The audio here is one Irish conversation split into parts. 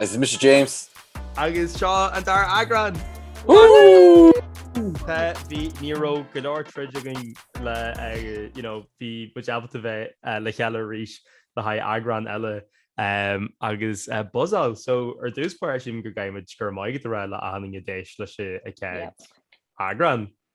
Is mise James. Agus seo an dara eagrán! Woohoo! Bhí, ní raibh go leor troid againn le, you know, bhí muid ábalta bheith le chéile arís le haghaidh eagrán eile agus buzzáil! So ar dtús báire, sílim go gcaithfidh muid go raibh maith agat a rá le achan duine a d'éist leis an chéad eagrán.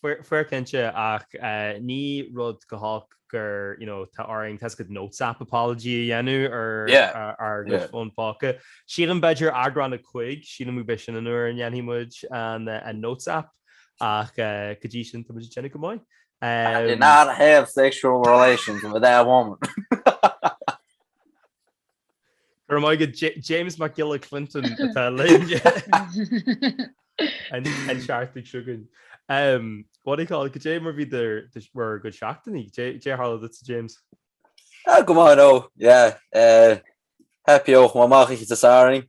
Fair cinnte, ach ní raibh chomh holc go raibh, you know, orainn toiseacht notes app apology a dhéanamh ar ár gcuid fón póca. Sílim b'fhéidir eagrán a cúig, sílim gurb é sin an uair a ndéanfaidh muid an notes app, ach go dtí sin tá muid ag déanamh go maith. I did not have sexual relations with that woman. Go raibh maith agat James Mac Giolla Clinton atá linn an tseachtain seo againn. What do you call it cad é mar a bhí bhur gcuid seachtainí, cad é a tharla duitse James? Go maith now, yeah. Happy out, chuaigh mé amach oíche Shathairn,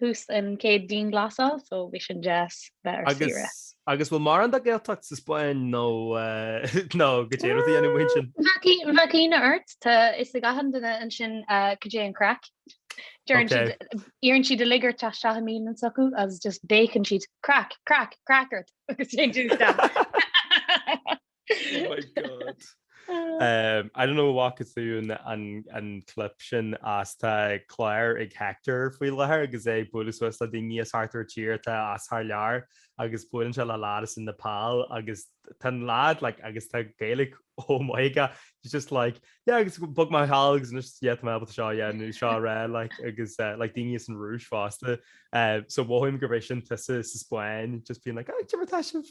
thús an chéad dianghlasáil, so bhí sin deas bheith ar saoire. Agus bhfuil mórán de Ghaeltacht sa Spáinn nó nó cad é rud a dhéanamh mhaoin sin? Bheadh ionadh ort, tá a fhios ag achan duine ansin cad é an craic. Deireann siad, iarrann siad uilig ort teacht isteach i mbialann s'acu agus just béiceann siad craic, craic, craic ort agus téann tú isteach. Oh my God. Umm, I don't know a bhfaca tú an clip sin as tá clár ag Hector faoi láthair agus é ag bualadh suas le daoine as thart ar tír atá as thar lear agus buaileann sé le lad as Nepal agus tá an lad like agus tá Gaeilge oh my God he's just like yeah agus bhog mé anall agus anois yeah tá mé ábalta seo yeah nó seo a rá like agus eh, like daoine as an Rúis fosta eh, so mothaím gurb é sin tusa sa Spáinn just being like ah, cad é mar atá sibh?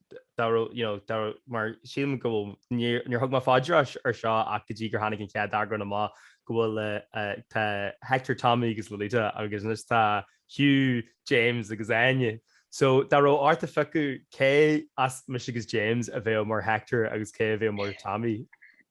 dá raibh, you know, dá raibh, mar sílim go bhfuil, níor, níor thug mé fá dear seo ach go dtí gur tháinig an chéad eagrán amach, go bhfuil eh, tá Hector, Tommy agus Laurita agus anois tá Hugh, James agus Áine. So dá raibh ort a phiocadh cé as mise agus James a bheadh mar Hector agus cé a bheadh mar Tommy?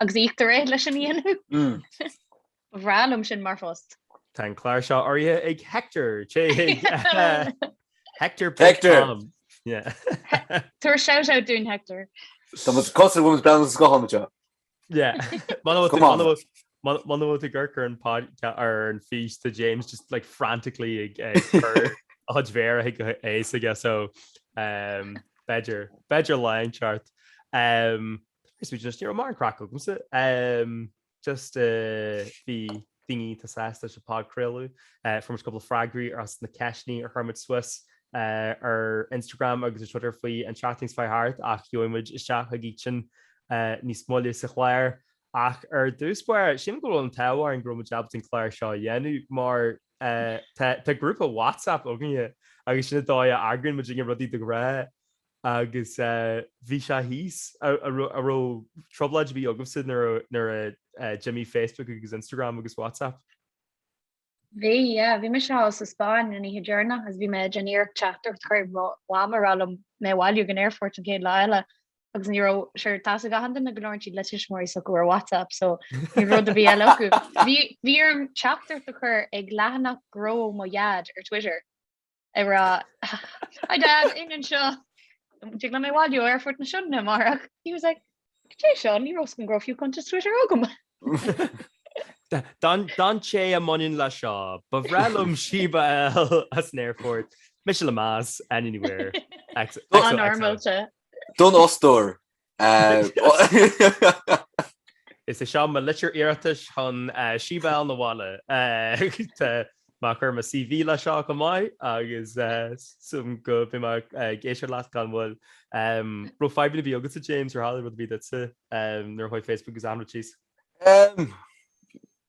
Agus íoctar é leis a dhéanamh. Ba bhreá liom sin mar phost. Tá an clár seo urraithe ag Hector, téigh Hector Hector! Tabhair shout out dúinn Hector. Tá muid cosúil go bhfuil muid ag breathnú sa scáthán anseo. Muna bhfuil tú ag amharc ar an podcast ar an fís tá James just like frantically ag cur a chuid méara chuig aghaidh s'aige so b'fhéidir b'fhéidir lion ceart. Is muid just, you know, mar an craic agamsa. Um, just, uh, bhí daoine iontach sásta leis an phodchraoladh, uh, fuair muid cúpla freagraí as na ceistní ar chuir muid suas, uh, ar Instagram agus ar Twitter faoi an tseachtain seo thart ach gheobhaidh muid isteach chuige sin, uh, níos moille sa chlár. Ach ar dtús báire, sílim go bhfuil an t-ádh orainn go raibh muid ábalta an clár seo a dhéanamh mar, uh, tá, tá grúpa WhatsApp againne agus sin an dóigh a eagraíonn muid rudaí de ghnáth. Agus bhí sé thíos, an raibh trioblóid ar bith agaibhse nuair a d'imigh Facebook agus Instagram agus WhatsApp. Bhí, yeah. Bhí mise thall sa Spáinn an oíche deireanach agus bhí mé ag déanamh iarracht teachtaireacht a chur chuig mo mham ag rá léi mé a bhailiú ag an aerfort an chéad lá eile agus ní raibh, sure, tá a fhios ag achan duine go labhrann siad le tuismitheoirí s'acu ar WhatsApp so níl rud ar bith eile acu. Bhí, bhí orm teachtaireacht a chur chuig leathanach gnó mo dhaid ar Twitter. ag rá Hi Dad, d'iníon anseo! Tig leat mé a bhailiú ó Aerfort na Sionainne amárach. He was like Cad é seo? Ní raibh a fhios agam go raibh fiú cuntas Twitter agam! Don té a mbaineann leis seo. Ba bhreá liom síob abhaile as an aerfort. Mise le meas, anywhere. Xo xo xo. An-fhoirmeálta. Don fhostóir! Is é seo mo litir iarratais chun síob a fháil chun an bhaile. Tá mé ag cur mo CV leis seo chomh maith agus súil agam go mbeidh mé ag cloisteáil uait gan mhoill. Raibh fadhbanna ar bith agatsa James ar tharla rud ar bith duitse nuair a chuaigh Facebook agus achan rud síos?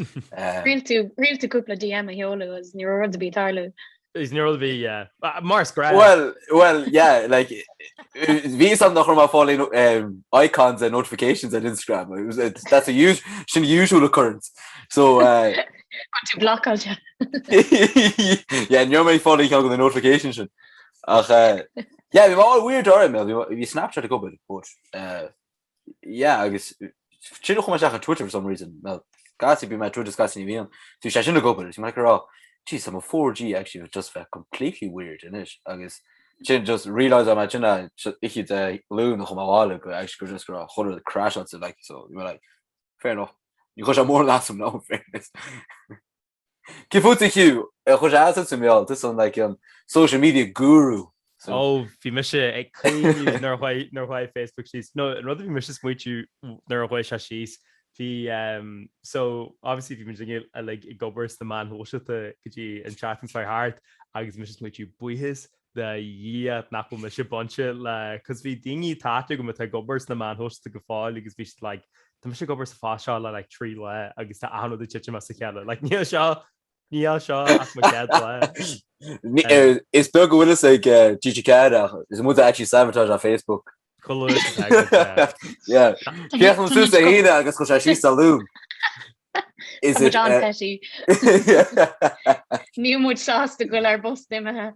Thriail tú cúpla DM a sheoladh agus ní raibh rud ar bith ag tarlú. Is níor bhí mar is greim. Bhuel, bhuel, yeah, like, bhí a fhios agam nach raibh mé ag fáil aon icons and notifications on Instagram. It was, it's, that's a us, sin usual occurrence. So, uh, An tú blacáil se? yeah, ní raibh mé ag fáil aon cheann de na notifications sin. Ach, uh, yeah, bhí mar weird orm, bhí Snapchat ag obair, but, uh, yeah agus sin a chuaigh mé isteach ar Twitter for some reason well Scotty bíonn mé ar Twitter Scotty ní bhíonn tú sé sin ag obair is mé ag rá jeez tá mo 4G actually bheith just bheith completely weird anois agus sin just realise mé sin ichi de lún a chum a bhaile go actually gur just gur chrashaíl siad like so you were like fair enough níor chuir sé mórán as dom in fairness Cad é fútsa Hugh? Ar chuir sé as an suimiúil? Tusa an like an social media guru. Ó, bhí mise ag caoineadh nuair a nuair a chuaigh Facebook síos. No, an rud a bhí mise ag smaoitiú nuair a chuaigh sé síos, bhí ehm, so, obviously bhí muidinne uilig ag obair sna meáin shóisialta go dtí an tseachtain seo a chuaigh thart agus bhí mise ag smaoitiú buíochas le Dia nach bhfuil mise bainte le 'cause bhí daoine atá aithne agam atá ag obair sna meáin shóisialta go fóill agus bhí siad like Tá mise ag obair sa phost seo le like trí lá agus tá achan rud ag titim as a chéile like níl seo níl seo ar mo chéad lá Is dócha go bhfuil a fhios ag eh, TG4 is muid actually sabotage an Facebook Chéan tú sé híine agus chu sé sí sa lúm. Is it John Petty? Níl muid sásta go bhfuil ar bus imithe.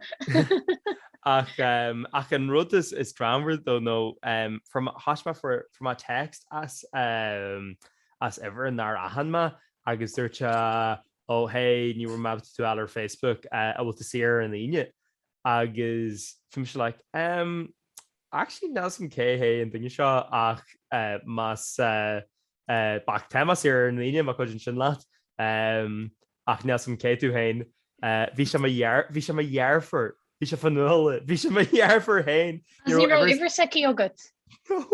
Ach um, ach an rud is, is drámata domh ná um, fuair, thais mé fuair, fuair mé text as, um, as uimhir nár aithin mé agus dúirt sé ó hé ní bhfuair mé tú eile ar Facebook uh, an bhfuil tú saor an Aoine agus bhí mise like, um, Actually níl 's agam cé hé an duine seo ach más ea bac Temas ar an Aoine má chuidíonn sin leat ach níl 's agam cé tú féin. Bhí sé mo dhear, bhí sé mo dheirfiúr, bhí sé fón nua, bhí sé mo dheirfiúr féin. Ní raibh uimhir, uimhir s'aici agat? No.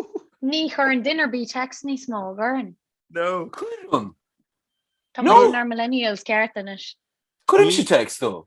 Ní chuireann duine ar bith text níos mó, an gcuireann? No. Cuireann. Tá muid inár millennials ceart anois. Cuirimse text dó.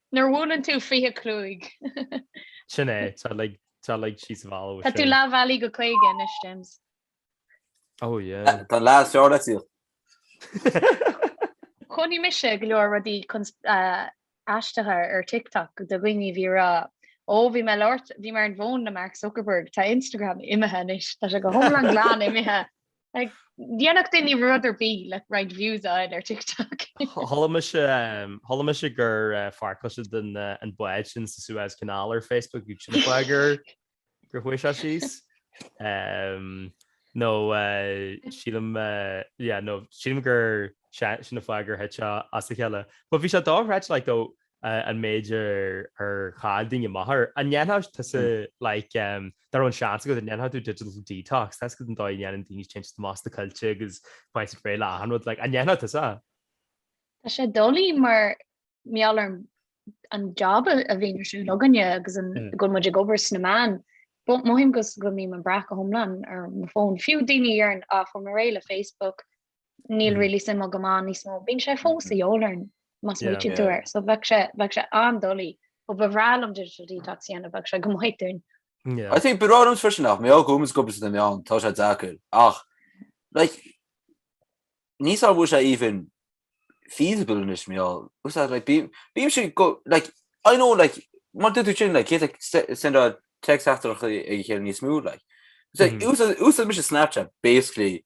Nuair a bhuaileann tú 25. Sin é, tá like tá like síos a bhailiú Tá tú sin. leath bealaigh go 50 anois, James. Oh yeah. Tá an leath is fearr le tíocht. Chonaic mise go leor rudaí cons eh aisteacha ar TikTok de dhaoine a bhí ag rá Ó bhí mé ag labhairt bhí mé ar an bhfón le Mark Zuckerberg, tá Instagram imithe anois, tá sé go hiomlán glan imithe. Dhéanfadh daoine rud ar bith le roinnt views a fháil ar TikTok. Chuala mise gur fear cloisteadh den an bád sin sa Suez Canal ar Facebook agus sin an fáth gur chuaigh sé síos. Nó sílim yeah nó sílim gur sin an fáth gur thit sé as a chéile. But bhí sé dochreidte like though an méid ar chaill daoine a meabhair. An ndéanfadh tusa, like, dá raibh an seans agat, an ndéanfadh tú digital detox? Tá a fhios agat an dóigh a ndéanann daoine téann siad amach sna coillte agus faigheann siad réidh le achan rud, like, an ndéanfadh tusa? Tá sé doiligh mar gheall ar an job a bhíonn ar siúl againne agus go bhfuil muid ag obair sna meáin. Mothaím go mbím ag brath go hiomlán ar mo fón. Fiú daoine a deireann, á, fuair mé réidh le Facebook, níl really suim agam ann níos mó. Bíonn sé fós a dhíobháil orm, más Yeah. muid ag Yeah. dul air. So bheadh sé, bheadh sé an-doiligh. Ó, ba bhreá liom digital detox a dhéanamh, bheadh sé go maith dúinn. Yeah. I think ba bhreá liomsa freisin ach mar gheall go mbím ag obair sna meáin tá sé deacair ach like níl 's agam an bhfuil sé even feasible anois mé á ús like bí bím si go like I know like mar a dúirt tú sin like cé like se- send á text after ag a chéile níos mó like so Mhm. ús úsáidimse Snapchat basically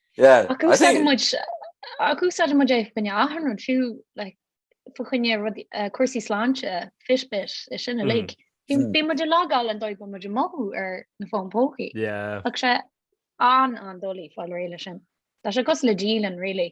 Ach úsáideann muid, ach úsáideann muid é fá choinne achan rud, fiú like fá choinne rud, cúrsaí sláinte, fitbit, is sin uilig. Bhí, bhí muid ag logáil an dóigh a raibh muid ag mothú ar na fóin póca. Tá sé an-an-doiligh fáil réidh leis sin. Tá sé cosúil le dialann really.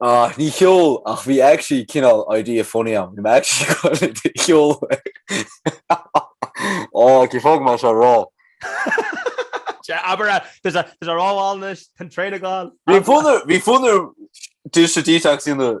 Ach ní ceol, ach bhí actually cineál idea funny ann, bhí mé actually chun é a cheoladh. Ó, cén fáth a bhfuil mé á rá seo? Sea, abair é! Tá sé ráite anois, tá an traein ag dul! Bhí fonn orm just detox a dhéanamh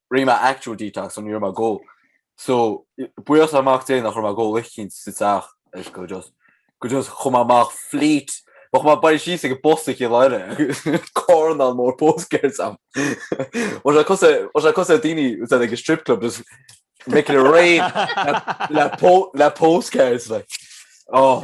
Rinne mé actual detox ach ní raibh mé ag dul, so buíochas le Mac Dé nach raibh mé ag dul isteach sa teach so just, so just chuir mé amach fleet chuaigh mé síos ag an bpost i gCill Dara agus carnán mór postcards ann Bhí sé cosúil bhí sé cosúil le daoine úd ag an strip club just making it rain le po le postcards like oh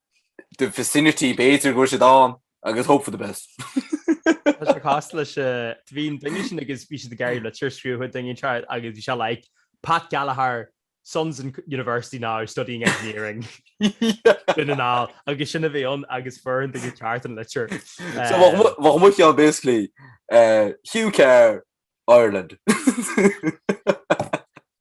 the vicinity, b'fhéidir go bhfuil siad ann agus hope for the best. Tá sé casta leis an bhí an duine sin agus bhí siad ag rá go raibh litir scríofa don duine seo agus bhí sé like Pat Gallagher, son's in university now studying engineering Dún na nGall agus sin a bhí ann agus fuair an duine ceart an litir. So bheadh mu- bheadh muid ann basically eh, Hugh Carr, Ireland.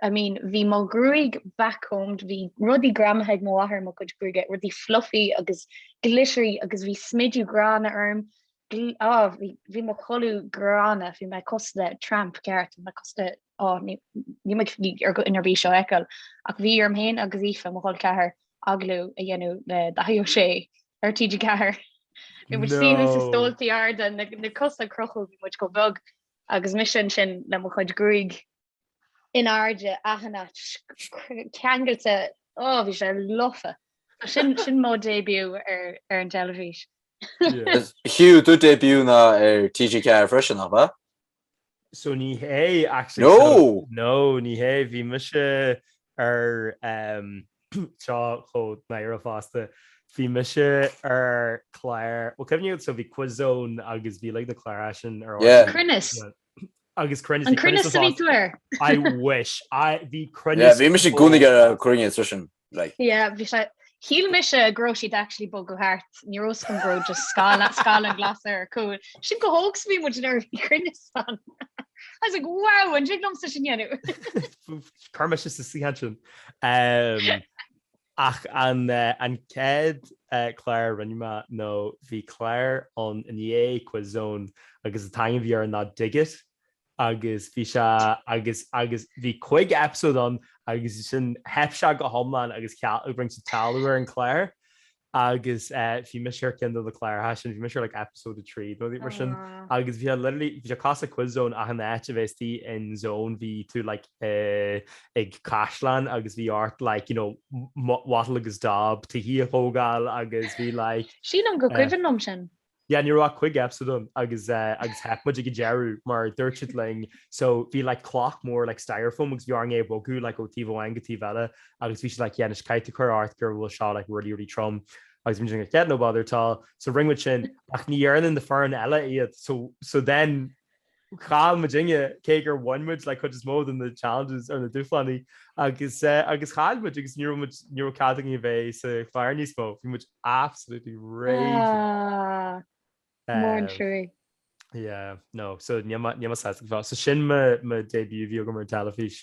I mean, bhí mo ghruaig backcombed, bhí rudaí greamaithe ag mo mháthair i mo chuid gruaige, rudaí fluffy agus glittery agus bhí smideadh gránna orm, ah bhí, bhí mo chulaith gránna, bhí mé cosúil le tramp ceart, bhí mé cosúil le, oh ní, níl muid ag dul in ann é seo a fheiceáil ach bhí orm féin agus Aoife, mo chol ceathar, agallamh a dhéanamh le Daithí Ó Sé ar TG4. Bhí muid inár suí sna stóltaí arda, na cosa crochta, bhí muid chomh beag agus mise ansin le mo chuid gruaig. in airde athní ceangailte ó bhí sé lofa. Sin sin mó début ar ar an teilifís. Hugh do début ná ar TG4 freisin nach ea? So ní hé actually No! so no ní hé bhí mise ar em seo chomh náireach fosta bhí mise ar clár bhuel an cuimhin libh so bhí Quiz Zone agus bhí like na cláracha sin ar Yeah. RTÉ. Cruinneas Agus cruinneas, bhí cruinneas ar TG4! I wish! Bhí cruinneas. Bhí mise i gcónaí ar Cruinneas freisin. Shíl mise go raibh siad actually ag bogadh thart, ní raibh fhios agam go raibh just scáileán glas ar a gcúl. Sin chomh hóg is a bhí muid nuair a bhí cruinneas ann! I was like, wow! An dtig liomsa sin dhéanamh? Cuir mise i mo shuí ansin. Ach an chéad chlár a rinne mé, nó bhí clár ann i ndiaidh Quiz Zone agus an t-ainm a bhí air ná Dig It agus bhí sé agus agus bhí cúig eipeasóid ann agus ansin theip sé go hiomlán agus cheal rinne siad cealú ar an clár agus bhí mise ar ceann de na cláracha sin, bhí mise ar like episode a trí nó rud mar sin agus bhí sé literally, bhí sé cosúil le Quiz Zone ach in áit a bheith istigh in zone bhí tú like. ag caisleán agus bhí ort like you know wattle agus daub tithe a thógáil agus bhí like. Sílim go cuimhin liom sin. Yeah ní raibh ach cuig episode ann agus agus theip muid ag an deireadh mar dúirt siad linn so bhí like cloch mór like styrofoam agus bhí orainn é a bhogadh like ó taobh amháin go taobh eile agus bhí siad like yeah anois caithfidh tú cur ort go bhfuil seo like really really trom agus muid like yeah no bother at all so rinne muid sin ach ní dhearna na foireann eile iad so so then Chaill muidinne, cé gur bhain muid like cuid is mó de na challenges or na dúshlánaí, agus agus chaill muid agus ní raibh muid, ní raibh cead againn a bheith sa chlár níos mó, bhí muid absolutely raging. Ah, mór an trua. Yeah, no, so níl mé sásta. So sin mo debut bhí agam ar an teilifís.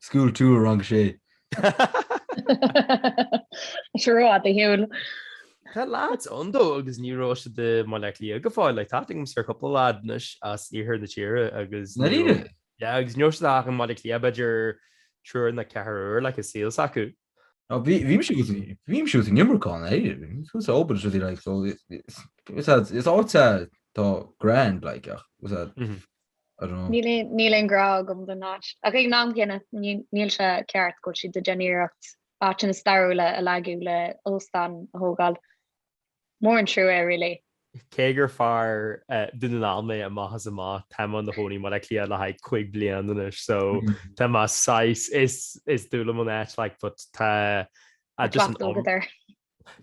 School Tour, Rang a Sé. Seo raibh fhada shiúil. Tá leaids ann though agus ní raibh siad i mBaile Átha Cliath go fóill, like, tá aithne agamsa ar chúpla lad anois as iarthar na tíre agus Na rinne? yeah, agus ní raibh siad ach i mBaile Átha Cliath b'fhéidir triúr nó ceathrar uair, like, sa saol s'acu. Ná bhí, bhí mise go, bhí mise go minic ann, eh, bhí mise go sa Oban is rudaí, like, so, is, is, is áit, eh, tá grand, like, ach, is, eh, Mhm. Níl aon ghrá agam don áit, ach ag an am céanna níl sé ceart go bhfuil siad ag déanamh iarracht áiteanna stairiúla a leagadh le óstán a thógáil. Mór an trua é really. Cé gur fear Dún na nGall mé amach is amach, táim i mo chónaí i mBaile Átha Cliath le haghaidh cúig bliana anois so tá mé saghas, is dúil liom an áit like but tá just an, Cleachtadh agat air.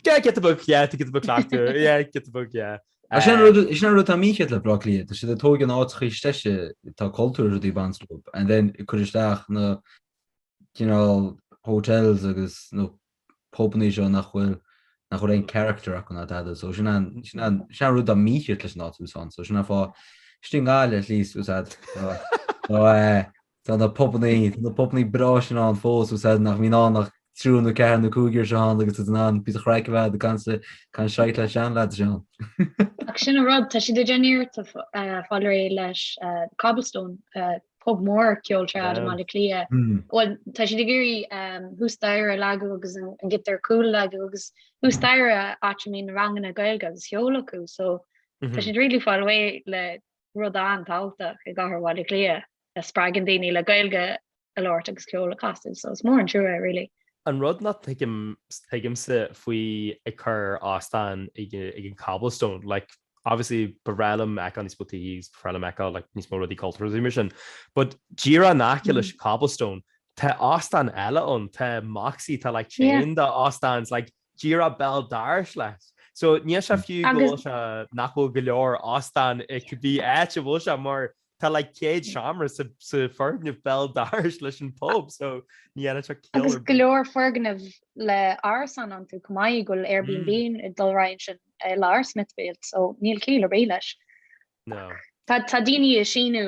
Yeah, get the book, yeah, to get the book back to her, yeah, get the book, yeah. Ach sin rud, is sin rud tá mícheart le Baile Átha Cliath, tá siad ag tóigeadh an áit chuí steise, tá cultúr rudaí banstóip, and then ag cur isteach na, you know, hotels agus na pubannaí seo nach bhfuil, nach bhfuil aon character acu ná tada, so sin an, sin an, sin an rud tá mícheart leis an áit úsáin, so sin an fáth, is ding gá le at least úsáid, so, so, eh, Tá na pubannaí, tá na pubannaí breá sin ann fós, agus tá nach mbíonn ann ach triúr nó ceathrar nó cúigear seo ann agus tú in ann píosa craic a bheith ag caint seit le seanleaids ann. Ach sin an rud, tá siad ag déanamh iarracht fáil réidh leis The Cobblestone, pub mór ceoil trad i mBaile Átha Cliath. Bhuel, tá siad ag iarraidh thuas staighre a leagadh agus an chuid ar cúl a leagadh agus thuas staighre áit a mbíonn na ranganna Gaeilge agus ceoil acu so tá siad really ag fáil réidh le rud an-tábhachtach i gcathair Bhaile Átha Cliath. a spreagann daoine le Gaeilge a labhairt agus ceol a chasadh so is mór an trua é really. An rud nach dtuigimse faoi ag cur óstán ag an Cobblestone like obviously ba bhreá liom fheiceáil níos mó tithe 's ba bhreá liom fheiceáil like níos mó rudaí cultúrtha 's mar sin but díreach in aice leis Cobblestone tá óstán eile ann tá Moxie tá like chain de óstáin 's like Díreach béal dorais leis. So níl sé fiú go bhfuil sé, nach bhfuil go leor óstán i gcibé áit a bhfuil sé mar tá like céad seomra sa foirgneamh béal dorais leis an pub so ní dhéanann sé ciall ar bith. Agus go leor foirgneamh le árasán iontu chomh maith go bhfuil Airbnb ag dul ar aghaidh ansin i lár Smithfield so níl ciall ar bith leis. Ach tá daoine ag síniú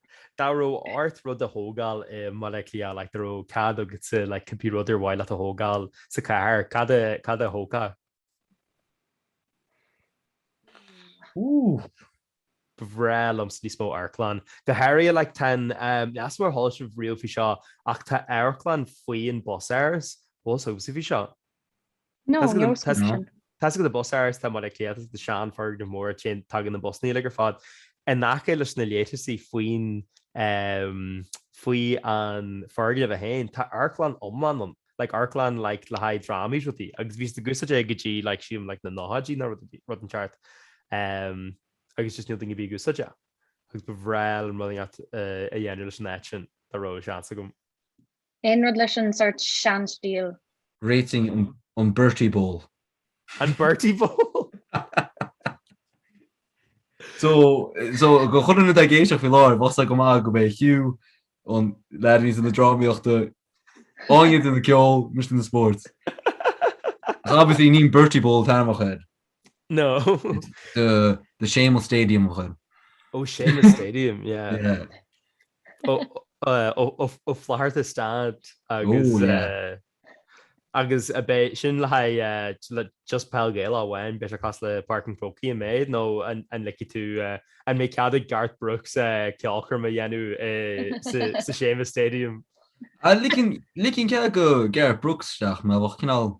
Dá raibh ort rud a thógáil i mBaile Átha Cliath, like, dá raibh cead agatsa, like, cibé rud ar mhaith leat a thógáil sa chathair, cad a, cad a thógfá? Ooh. Ba bhreá liomsa níos mó amharclann. Go háirithe, like, tá an, ehm, níl a fhios agam ar chuala sibh riamh faoi seo, ach tá amharclann faoi an Busáras, bhfuil a fhios agaibhse faoi seo. No, no solution. Tá's agat an Busáras tá muid ag cleachtadh seanfhoirgneamh mór tagann na busanna uilig ar fad in aice leis na leithreasaí faoin faoi an foirgneamh é féin tá amharclann iomlán ann like amharclann like le haghaidh drámaí is rudaí agus bhí siad ag úsáid é go dtí like sílim like na nóchaidí nó rud inteacht agus just níl duine ar bith ag úsáid é agus ba bhreá liom rud inteacht a dhéanamh leis an áit sin dá raibh seans agam. Aon rud leis an sórt seanstíl? Réitigh an Bertie Bowl. An Bertie Bowl? So, so do chuile dhuine atá ag éisteacht faoi láthair, bheadh sé go maith go mbeidh Hugh, an leaid a bhí sa na drámaíochta, Áine de na ceol, mise de na spóirt. Agus í ní Bertie Bowl a thabharfá air. No. The Séamus Stadium a ghoil. Oh Séamus Stadium, yeah. Ó Flatharta Staid agus an mbeidh sin le haghaidh just peil Ghaelach amháin, beidh sé cosúil le Páirc an Chrócaigh an méid nó an ligfidh tú, an mbeidh cead ag Garth Brooks ceolchoirm a dhéanamh sa Séamus Stadium? Ligfinn cead do Garth Brooks isteach, ná bheadh cineál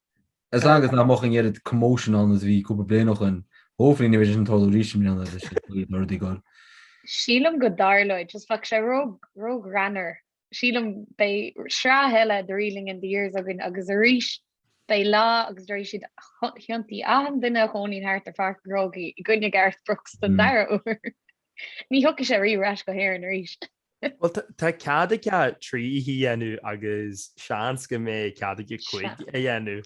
As long as nach mbeadh an oiread commotion ann is a bhí cúpla bliain ó shoin. Hopefully ní bheidh sé sin ag tarlú arís i mbliana agus sinn ag iarraidh rudaí a gcur. Sílim go dtarlóidh, just bheadh sé ró-ghreannmhar. Sílim, beidh sraith eile de Reeling in the Years againn agus arís beidh lá agus déarfaidh siad thiontaigh achan duine a chónaíonn thart ar Pháirc an Chrócaigh i gcoinne Garth Brooks don dara uair. Ní thiocfaidh sé riamh ar ais go hÉirinn arís. Bhuel, tá cead aige trí oíche a dhéanamh agus seans go mbeidh cead aige cúig a dhéanamh.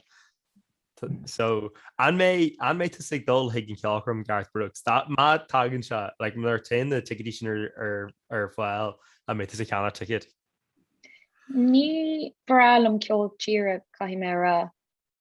So, an mbeidh tusa ag dul chuig an cheolchoirm Garth Brooks? Má tagann sé, like, nuair a téann na ticéidí sin ar fáil, an mbeidh tusa ag ceannach ticéad? Ní breá liom ceol tíre, caithfidh mé a rá.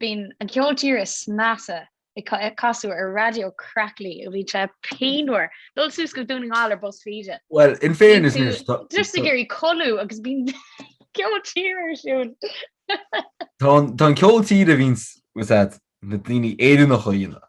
Bíonn an ceol tíre is measa ag casadh ar Raidió Craic-Lí ó bhíonn sé pianmhar dul suas go Dún na nGall ar bus Feda. Bhuel, in fairness, níor stop. Bíonn tú ag iarraidh codladh agus bíonn ceol tíre ar siúl. Tá an ceol tíre a bhíonn na daoine Éireannach a dhéanamh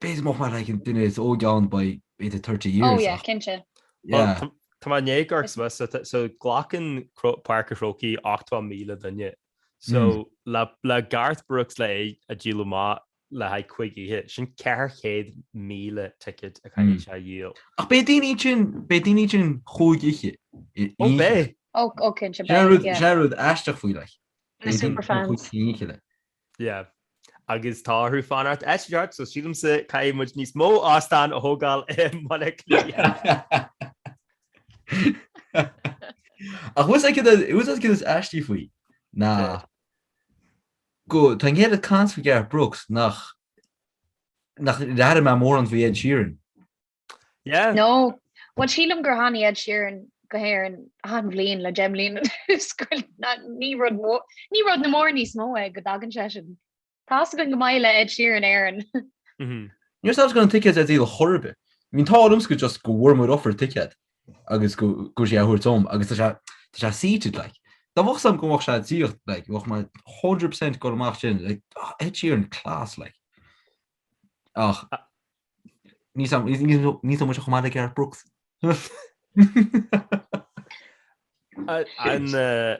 B'fhéidir nach maith leagan duine is óige ann by age of thirty years ach. Oh yeah, cinnte. Yeah. Tá mé i ndiaidh go raibh sa mhata, so glacann Páirc a' Chrócaigh 80,000 duine, so le Garth Brooks le é a dhíol amach le haghaidh cuig oíche, sin 400,000 ticéad a chaithfidh sé a dhíol. Ach beidh daoine ag dul, beidh daoine ag dul cúig oíche i Oh beidh. Oh, oh cinnte beidh, yeah. Sin an rud aisteach faoi, like. Na superfans. Yeah. Agus tá orthu fanacht áit inteacht, so sílimse caithfidh muid níos mó óstán a thógáil i mBaile Átha Cliath. Ach a fhios agat cad é, a fhios agat cad is aistí faoi ná go, tá go leor caint faoi Garth Brooks nach, nach gcuala mé mórán faoi Ed Sheeran. Yeah. No. Bhuel sílim gur tháinig Ed Sheeran go hÉirinn achan bhliain le deich mbliana anuas go na ní rud mó ní rud an-mhór níos mó é go dtagann sé sin. Tá a fhios againn gur maith le Ed Sheeran Éirinn. Ní raibh a fhios agam go raibh na ticéid ar díol ar chor ar bith. I mean tá orm go just go bhfuair muid offer ticéad agus go go bhfuair sé a thabhairt dom agus tá sé tá sé seated like. Dá mbeadh a fhios agam go mbeadh sé díreach like bheadh mé 100% ag dul amach sin like ah Ed Sheeran class like. Ach Ní dóigh muid a choimeád le Garth Brooks.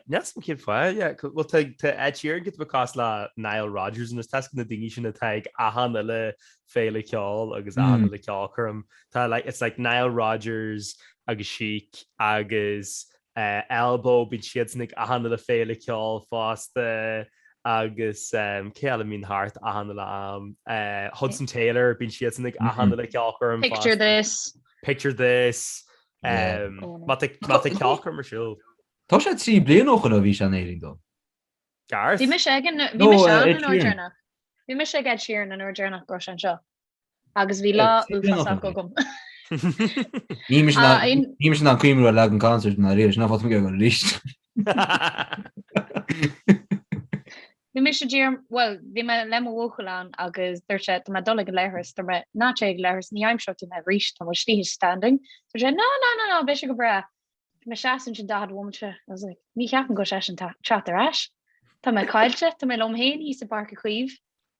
Neas mo chéad fáth, feel tá Ed Sheeran cineál cosúil le Nile Rodgers anois, tá a fhios agat na daoine sin atá ag achan uile féile ceoil agus achan uile ceolchoirm. Tá like it's like Nile Rodgers agus Chic agus Elbow, bíonn siadsan ag achan uile féile ceoil fosta agus cé eile a bhíonn thart achan uile am? Hudson Taylor, bíonn siadsan ag achan uile ceolchoirm fosta. Picture This. Picture This, má tá ceolchoirm ar siúl. Tá sé trí bliana ó shoin ó bhí sé in Éirinn dom. Garth? Bhí mise ag an, bhí mise ann an uair deireanach. Bhí mise ag Ed Sheeran an uair deireanach go raibh sé anseo. agus bhí lá uafásach agam. Níl mise Ah, in- ná- níl mise ag cuimhniú ar leath an concert ná a dhath, sin ná fáilte mé go go rís. Bhí mise dír, bhuel, bhí mé le mo bhuachaill ann agus dúirt sé, tá mé dul ag an leithreas, dúirt mé, ná téigh ag an leithreas, ní aimseoidh tú mé arís, tá muid uilig standing. Dúirt sé, ná, ná, ná, ná, beidh sé go breá. Tá mé ag seasamh ansin daichead bomaite. I was like, ní cheapaim go bhfuil seisean ag teacht ar ais. Tá mé caillte, tá mé liom féin thíos i bPáirc Uí Chaoimh.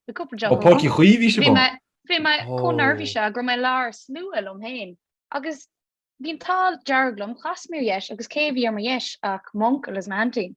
Bhí cúpla deoch Ó, agam. Páirc Uí Chaoimh bhí sibh Bhí mé, ann? bhí mé Ó. chomh neirbhíseach go raibh mé i lár slua liom féin. Agus bhí an t-ádh dearg liom, chas mé ar dheis agus cé a bhí ar mo dheis ach m'uncail is m'aintín.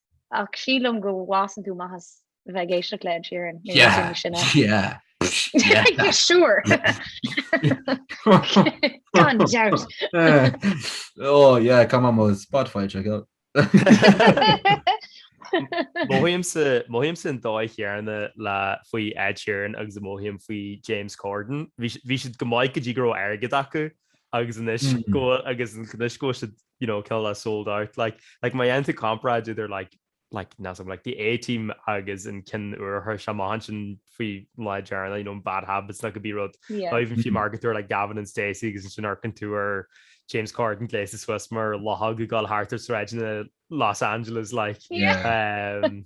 ach sílim go bhfásann tú amach as bheith ag éisteacht le Ed Sheeran siúr ó cá má Spotify go mothaímse an dóigh chéanna faoi Ed Sheeran agus a mothaím faoi James Corden bhí siad go maith go dtí go raibh airgead acu agus anois go agus anois tá siad you know, ceol is sold out, like, like má dhéanann tú comparáid idir like, like, not some, like the A-Team agus an ceann úr atá seo a tháinig amach sin faoi dheireadh, you know, Bad Habits nó cibé rud, yeah, not even fiú mar a deir tú like Gavin and Stacey agus ansin feiceann tú James Corden gléasta suas mar luchóg ag dul thart ar sráideanna Los Angeles, like, yeah, um,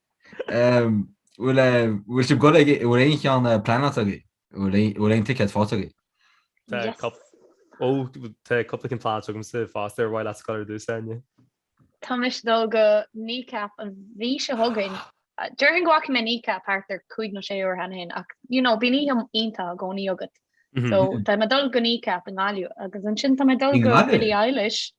Bhfuil bhfuil sibh ag gabháil bhfuil aon cheann eh, pleanáilte agaibh? Bhfuil aon- bhfuil aon ticket faighte agaibh? Tá Yes. cup- ó tá cúpla ceann pleanáilte agamsa fosta bhuel abair tusa Áine. Tá mise ag dul go kneecap an mhí seo chugainn. Deirfinn go bhfaca mé kneecap thart ar 5 nó 6 uair cheana féin ach you know bíonn oíche iontach i gcónaí agat. So tá mé ag dul go kneecap i nGaillimh agus ansin tá mé ag dul I go nGaillimh? Billie Eilish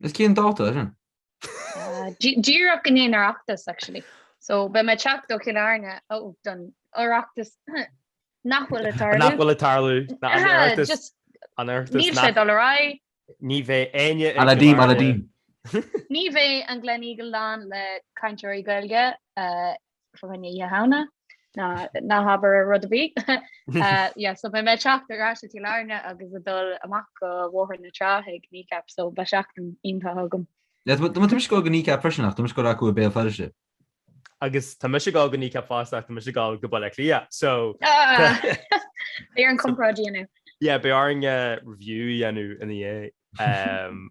Is cén dáta é sin? Díreach i ndiaidh an Oireachtais actually. So beidh mé ag teacht ó Chill Airne don Oireachtas nach bhfuil ag tarlú. Nach bhfuil ag tarlú, ná an tOireachtas. An Oireachtas. Níl sé ag dul ar aghaidh. Ní bheidh éinne i gCill Airne. Ní bheidh an Gleneagle lán le cainteoirí Gaeilge Um Oíche Shamhna ná ná habair rud ar bith. Uh, yeah, so beidh mé ag teacht ar ais ó Chill Airne agus ag dul amach go Bóthar na Trá chuig kneecap, so beidh seachtain iontach agam. Yeah, tá tá mise ag gabháil go kneecap freisin ach tá mise ag gabháil chucu i mBéal Feirste. Agus tá mise ag gabháil go kneecap fosta ach tá mise ag gabháil go Baile Átha Cliath, so. Ah! Beidh orainn comparáid a dhéanamh. Yeah, beidh orainn review a dhéanamh ina dhiaidh. Um,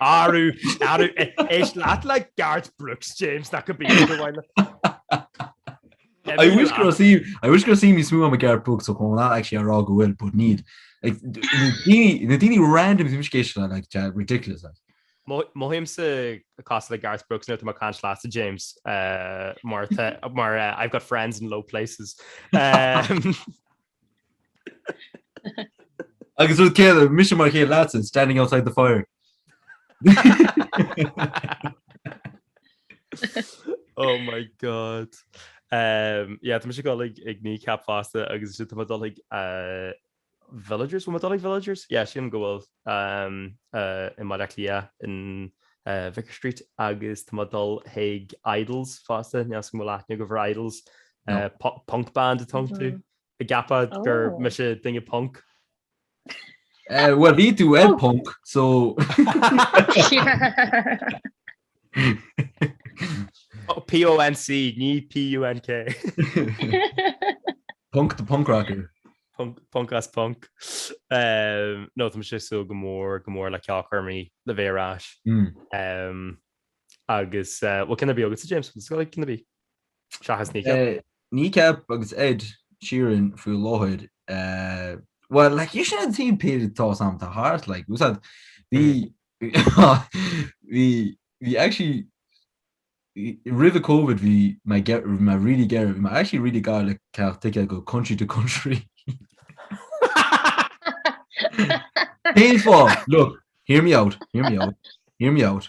Arú, arú, éist leat le Garth Brooks, James, that could be you in a while. I wish go raibh suim, I wish go raibh suim níos mó agam i Garth Brooks ó ba mhaith liom a rá go bhfuil, but níl. Like, na daoine, na daoine random is bím obsessed leo, like, tá ridiculous, like. Mo- mothaímse cosúil le Garth Brooks nuair atá mé ag caint leatsa, James, eh, mar tá, mar eh, I've got friends in low places. Eh, Agus rud céanna, mise mar an gcéanna leatsa, standing outside the fire. oh my god. Um, yeah, tá mise ag gabháil ag kneecap fosta agus tá mé ag dul ag uh, villagers, bhfuil tú ag dul ag villagers? Yeah, sílim go bhfuil i mBaile Átha Cliath in Vicar Street agus tá mé ag dul chuig Idles fosta, níl 'fhios a'm an bhfuil aithne agaibh ar Idles, punk band atá iontu, ag ceapadh gur mise duine punk. Bhuel bhí tú ag punk so. PONC, ní PUNK. Punk the Punk Rocker. Punk as Punk. nó tá sé sú go mór go mór le ceolchoirmeacha le bheith ar ais. agus an bhfuil cinn ar bith agatsa James, cinn ar bith? Seachas Kneecap agus Ed Sheeran faoi láthair. Well, like, sin an type atá ag seasamh thart, like, úsad, bhí Bhí actually, roimh an Covid bhí mé really gearr, bhí mé actually really gar le ticéad chuig Country to country. Cén fáth? Look, hear me out, hear me out, hear me out.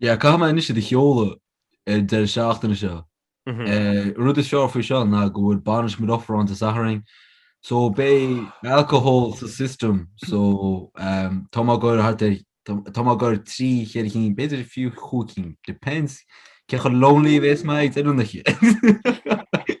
Yeah, caithfidh mé anois iad a sheoladh ar an deireadh seachtaine seo. An rud is fearr faoi seo ná go bhfuil bainisc mo dheirféar ann Dé Sathairn, so beidh alcohol sa system, so tá mé ag gabháil a rá thart ar, tá mé ag gabháil a rá trí, cheithre cinn, b'fhéidir fiú cúig cinn, depends cé chomh lonely a bhéas mé ag deireadh na hoíche!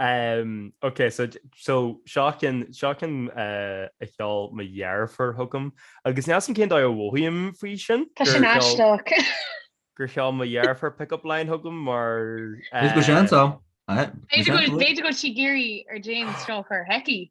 Ok so so seo ceann seo ceann a sheol mo dheirfiúr chugam agus níl a fhios agam cén dóigh a mhothaím faoi sin. Tá sin aisteach. gur sheol mo dheirfiúr pick up line chugam mar. B'fhéidir go bhfuil sí ag iarraidh orm James a chur chuici.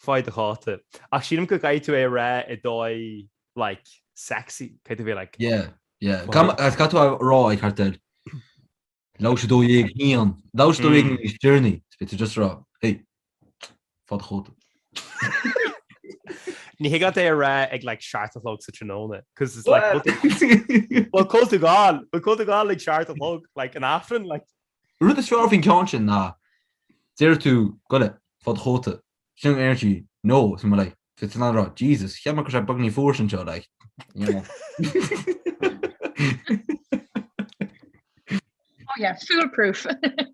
Faigh do chóta. Ach sílim go gcaithfidh tú é a rá i dóigh like sexy, caithfidh tú bheith like. Yeah, yeah. Cad Mar caithfidh tú a rá ag thart ar like 12:01, like 12:01 in his journey, is beidh tú just a rá hey, faigh do chóta. Ní thig leat é a rá ag like seacht a chlog sa tráthnóna, cos it's like bhfuil tú bhfuil tú ag gabháil, bhfuil tú ag gabháil ag seacht a chlog like an Aifreann like? An rud is fearr faoin ceann sin ná deir tú goitse faigh do chóta sin ar sí nó is mo leith fé sin an rud. Jesus, cheap mé go raibh sé beagáinín fuar anseo like, you know. Oh yeah, fool proof.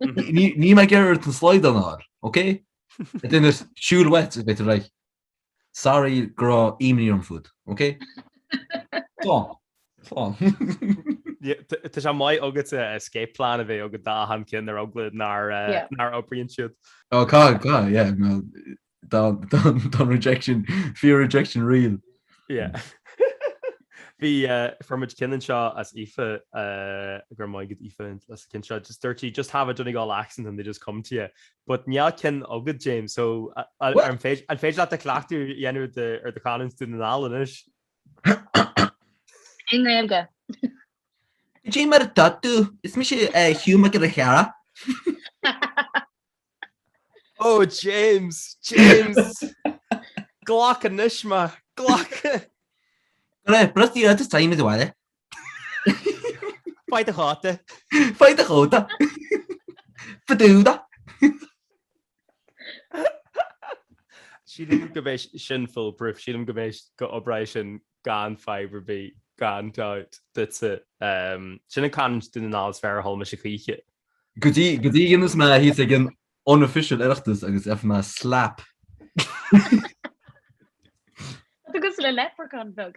Ní raibh mé ag iarraidh ort an slaghdán a fháil, ok? It in a shoe wet, a bit like. Sorry go raibh imní orm fút, ok? Slán. Slán. Tá sé maith agat escape plan a bheith agat d'achan ceann ar eagla nár nár oibríonn siad. Oh tá, tá, yeah, no, tá, tá, tá rejection, fear rejection real. Yeah. Bhí, fuair muid ceann anseo ó Aoife, go raibh maith agat Aoife as an gceann seo, just dúirt sí, just have a Donegal accent and they'll just come to you. But níl ceann agat James, so an féidir leat do chleachtadh a dhéanamh ar do chanúint Dhún na nGall anois? I nGaeilge. Cad é mar atá tú, is mise Hugh Mac Giolla Chearra. Ó James, James! Glac anois, maith thú! Go raibh, Brusty, I'll just tell you, Miss O'Reilly, Faigh do chóta! Faigh do chóta! Fadúda! Sílim go mbeidh sin foolproof, sílim go mbeidh, go n-oibreoidh sin gan fadhb ar bith, gan doubt duitse. Sin an canúint Dhún na nGall is fearr a chuala mise choíche. Go dtí go dtí dhéanfas mé é thíos ag an unofficial Oireachtas agus gheobhaidh mé slap. Tugas le leprechaun bheag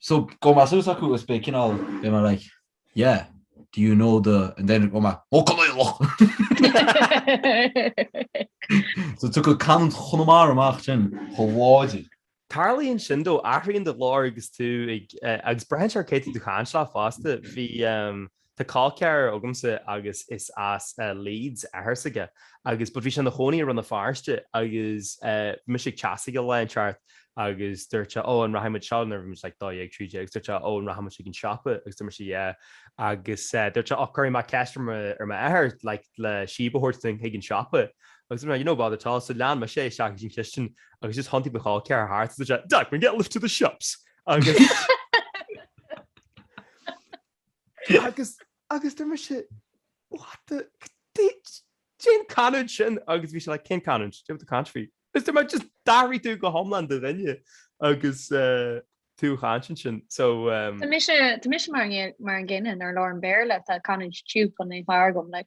so gabhfaidh mé suas chucu is beidh cineál beidh mé like yeah do you know the and then go mbeadh oh Conallach! so tiocfaidh canúint Chonamara amach sin chomh láidir. Tarlaíonn sin though, athraíonn do ghlór agus tú ag agus braitheann sé ar cé tá tú ag caint leo fosta. Bhí Tá col ceathar agamsa agus is as Leeds athar s'aige agus but bhí sé ina chónaí i Rann na Feirste agus bhí mise ag teach s'aige lá ceart agus dúirt sé Ó an rachaidh muid seo nuair a bhí muid like dó dhéag, trí déag agus dúirt sé Ó an rachaidh muid chuig an siopa agus dúirt mise yeah agus dúirt sé Och cuirfidh mé ceist ar m'athair like le síob a thabhairt dúinn chuig an siopa agus dúirt mé yeah no bother at all so lean mise é isteach ins an chistin agus just thiontaigh mo chol ceathar thart agus dúirt sé Dad can I get a lift to the shops agus Agus, agus deir mise, what the, caidé, caidé an canúint sin agus bhí sé like, cén canúint? Caidé tá tú ag caint faoi. Agus deir mé, just d'athraigh tú go hiomlán do dhuine agus tú ag caint ansin, so umm. Tá mise, tá mise mar an, mar an gcéanna nuair a labhraim Béarla, tá canúint Tuke on naomh agam like.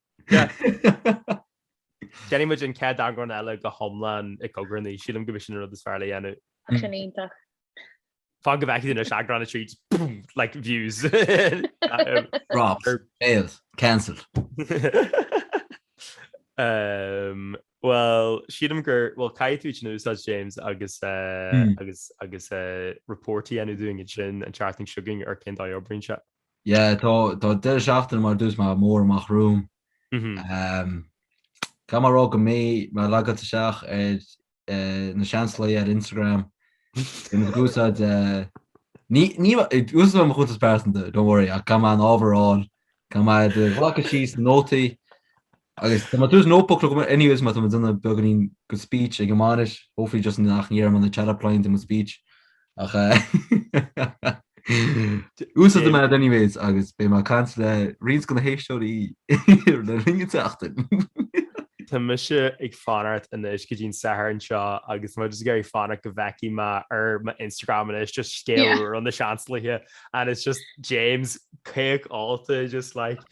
Déanfaidh muid an chéad eagrán eile go hiomlán i gcogar anois, sílim go bhfuil sin an rud is fearr le dhéanamh. Sin iontach. Fan go bhfeicfidh tú anois eagrán 3, boom, like views. Dropped, failed, cancelled. Bhuel, sílim gur, bhuel, caithfidh tú sin a úsáid, James, agus, agus, agus, report a dhéanamh dúinn ansin an tseachtain seo chugainn ar cén dóigh a n-oibríonn sé. Yeah tá tá deireadh seachtaine mar dúirt mé mór amach romham. Umm caithfidh mé a rá go mbeidh mé logáilte isteach ar eh Na Seansálaithe ar Instagram in ag úsáid eh ní ní úsáidfidh mé mo chuntas pearsanta don't worry ach caithfidh mé an t-ábhar a fháil caithfidh mé iad a ghlacadh síos na nótaí Agus tá mé tús notebook agam anyways mar tá mé ag déanamh beagáinín de speech ag an mbainis, hopefully just nach ndéarfaidh mé na chat up lines i mo speech ach úsáidfidh mé it anyways agus beidh mé ag caint le roinnt de na héisteoirí le linn an tseachtain. Tá mise ag fanacht anois go dtí'n Satharn seo agus tá mé just ag iarraidh fanacht go bhfeicfidh mé ar m'Instagram anois just scéal Yeah. úr ó Na Seansálaithe and it's just James caoch ólta just like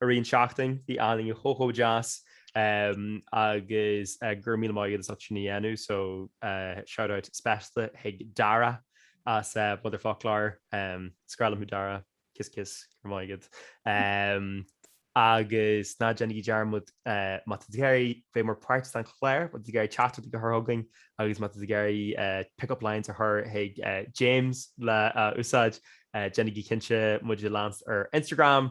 I rith na seachtaine bhí an oiread daoine chomh chomh deas agus go raibh míle maith agat as ucht sin a dhéanamh so shout out speisialta chuig Dara as Motherfoclóir, is grá liom thú Dara, kiss kiss go raibh maith agat agus ná déanaigí dearmad má tá tú ag iarraidh bheith mar páirt den chlár, ag iarraidh teachtaireachtaí a chur chugainn agus má tá tú ag iarraidh pick up lines a chur chuig James le a úsáid, déanaigí cinnte muid a leanúint ar Instagram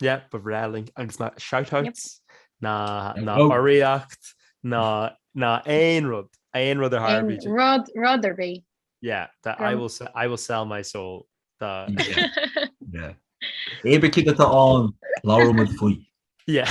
Yep, ba bhreá linn agus na shoutouts, na urraíocht, na aon rud, aon rud ar tharla bídh ag. Rud, rud ar bith. Yeah, the I will se- I will sell my soul, the. Yeah. Cibé cad atá ann, labhróidh muid faoi. Yeah.